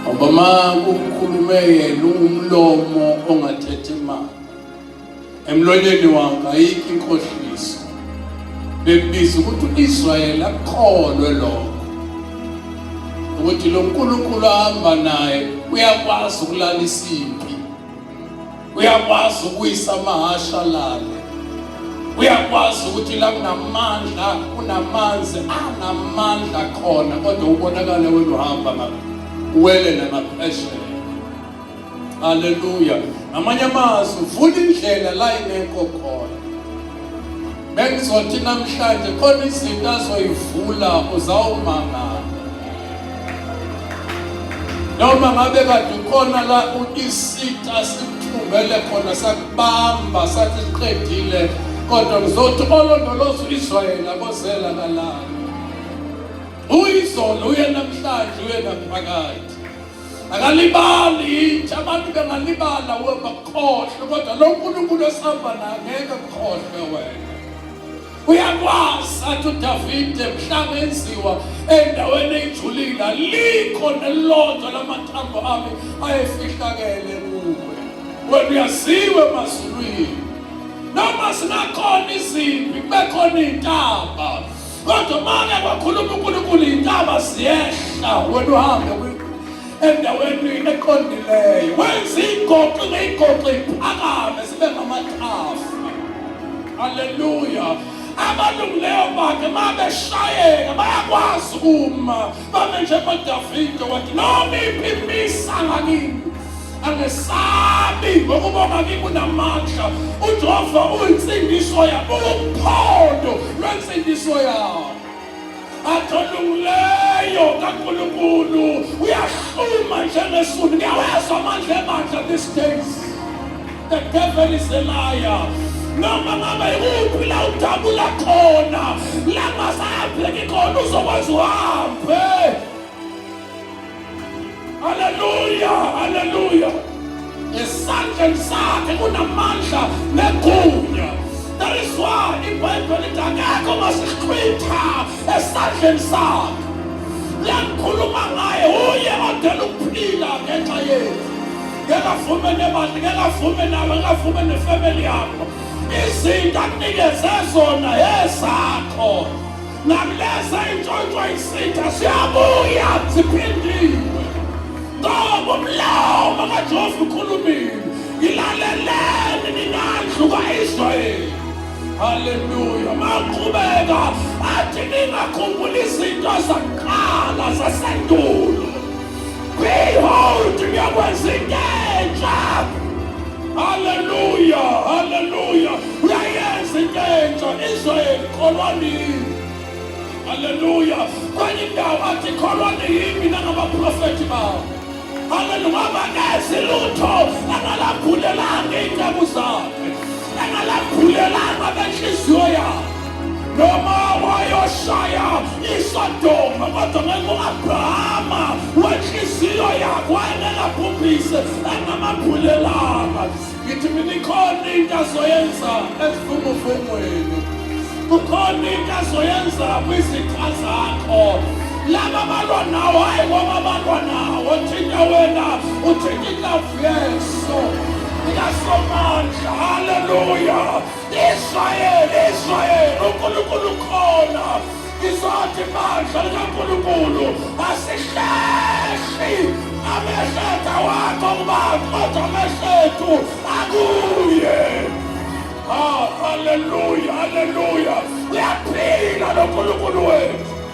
ngoba ma kukhulume yena ungumlomo ongathetha imali emlonyeni wakhe ayikho inkohliso bekubiza ukuthi u-israyeli akholwe lokho ukuthi lo nkulunkulu ahamba naye uyakwazi ukulala isimpi uyakwazi ukuyisa amahasha lale uyakwazi ukuthi la kunamandla kunamanzi anamandla khona kodwa ubonakale wena uhamba ngapha uwele namaphesheya haleluya ngamanye amazwi vula indlela la ingekho khona Bengizothi namhlanje khona izinto azoyivula uzawumangala. Noma ngabe kade ukhona la isita sikuthungele khona sakubamba sathi siqedile kodwa ngizothi olondoloza uIsrayeli abozela kalala. Uyizolo uye namhlanje uye naphakade. akalibali yintsha abantu bengalibala we bakukhohlwe kodwa lo nkulunkulu esihamba naye ngeke kukhohlwe wena uyakwazi athi udavide mhlawumbe enziwa endaweni eyijulile alikho nelilodwa lamathambo ami ayefihlakele kuwe wena uyaziwe emazulwini noma sinakhona izimpi kubekhona iy'ntaba kodwa mane kwakhuluma uNkulunkulu intaba ziyehla wena uhambe endaweni eqondileyo wenza igoqi ngeyigoqi iphakame sibe ngamathafu haleluya abalungileyo bakhe uma beshayeka bayakwazi uma Bame njengoba Davide wathi noma iphi imisa ngakini angesabi ngokubona kimi unamandla ujehova uyinsindiso yami uwuphondo lwensindiso yami adolungileyo kankulunkulu uyahluma njengesuni ngiyawezwa amandla emandla these days The devil is a liar. Noma ngabe ikuphi la udabula khona, la masapheki khona uzokwazi uhambe. Hallelujah, hallelujah. Esandleni sakhe kunamandla negunya. That is why iBhayibheli lithi akekho masichwitha esandleni sakhe. Langikhuluma ngaye uye odela ukuphila ngenxa yethu. ngeke avume nemali ngeke avume nawe ngeke avume nefamily yakho izinto akunikeze zona ezakho nakuleza intshontsho isitha siyabuya ziphindiwe ngoba umlomo kajehova ukhulumile ngilaleleni ninandlu ka-israyeli haleluya maqhubeka athi ningakhumbula izinto zakuqala zasendulo Behold, ngiyakwenza into entsha. Haleluya, haleluya. Uyayenza into entsha Israyeli kolwanini. Haleluya. Kwenye indawo athi kholwani yimi nangabaprofethi bawo. Haleluya. Ngaba nezilutho angalambulelanga iy'nceku zakhe. Engalambulelanga benhliziyo yabo noma wayoshaya iSodoma kodwa ngeke u-Abrahama wenhliziyo yakho wayengengabhubhise engamambulelanga ngithi mina ikhona into azoyenza ezivunguvungweni kukhona into azoyenza kwizitha zakho laba balwa nawo hayi ngoba balwa nawo thinta wena uthinta Yesu likaSomandla, haleluya! Israyeli, Israyeli, uNkulunkulu ukhona. Ngizothi bandla likaNkulunkulu asihleshi amehletha wakho kubantu kodwa amehlethu akuye. Ah, haleluya, haleluya! Uyaphila loNkulunkulu wethu.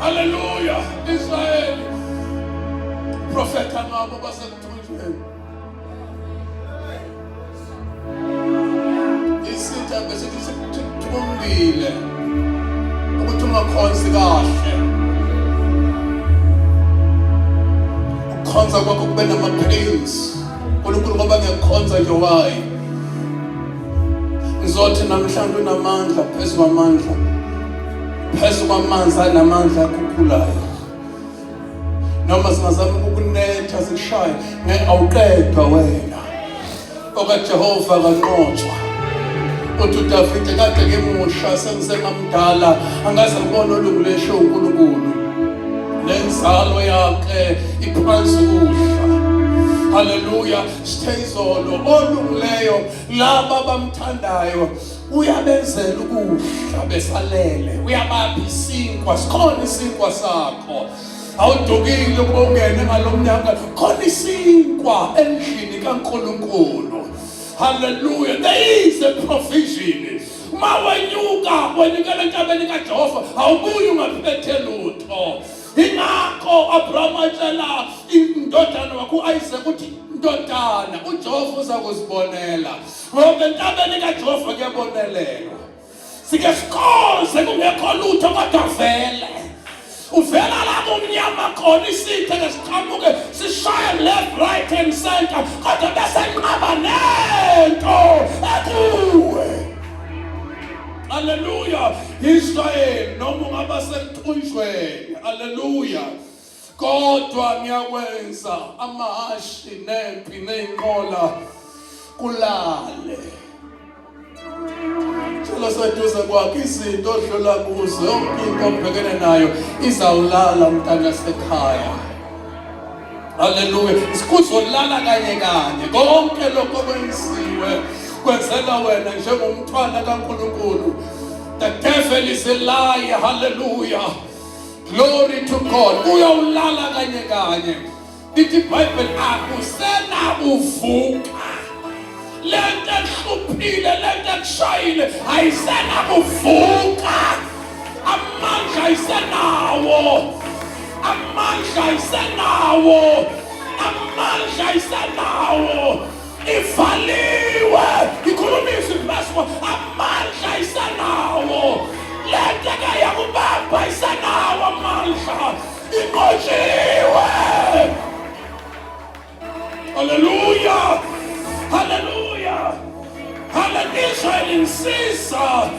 Hallelujah, Israel. Profeta ngabo basemthunjweni. Isitha bese sikuthungile. Ukuthi ungakhonzi kahle. Ukukhonza kwakho kube nama-pains. uNkulunkulu ngoba ngiyakhonza nje wayi. Ngizothi namhlanje unamandla phezu kwamandla. phezu kwamanzi anamandla akhukhulayo noma singazama ukunetha sishaye ngeke awuqedwa wena okajehova kanqotshwa uthi udavide kade ngimusha sengisengamdala angaze ngibone olungulesho unkulunkulu le nzalo yakhe iphansi kuhla haleluya sithe izolo olungileyo laba bamthandayo uyabenzela ukudla besalele uyabapha isinkwa sikhona isinkwa sakho awudukile ukuba ungene ngalo mnyaka khona isinkwa endlini kaNkulunkulu haleluya there is a provision uma wenyuka wenyukela entabeni kaJehova awubuyi ungaphethe lutho ingakho Abraham atshela indodana wakho uIsaac ukuthi ndodana uJehova uza kuzibonela Ngoba entabeni kaJehova kuyabonelelwa. Sike sikhonze kungekho lutho kodwa vele. Uvela lapho umnyama khona isithe ke siqhamuke sishaye left right and center kodwa bese nqaba nento ekuwe. Hallelujah. Israel noma ungaba sekuthunjweni. Hallelujah. kodwa ngiyakwenza amahhashi nempi neyinqola kulale sicelo seduze kwakhe izinto odlula kuzo yonke into obhekene nayo izawulala mntana sekhaya haleluya sikuzolala kanye kanye konke lokho kwenziwe kwenzela wena njengomntwana kankulunkulu the devil is a lie haleluya Glory to God. Uyawulala kanye kanye. Lithi Bible akusena uvuka. Lento ehluphile, lento ekushayile ayisena kuvuka. Amandla ayisenawo. Amandla ayisenawo. Amandla ayisenawo. ivaliwe ikhuluma izwi likaSimo amandla isanawo le nto kayakubamba isanawo amandla inqotshiwe haleluya haleluya haleluya israyeli nsiza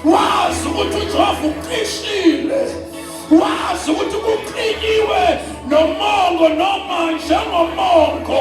wazi ukuthi ujehova uqishile wazi ukuthi kuqinyiwe nomongo noma njengomongo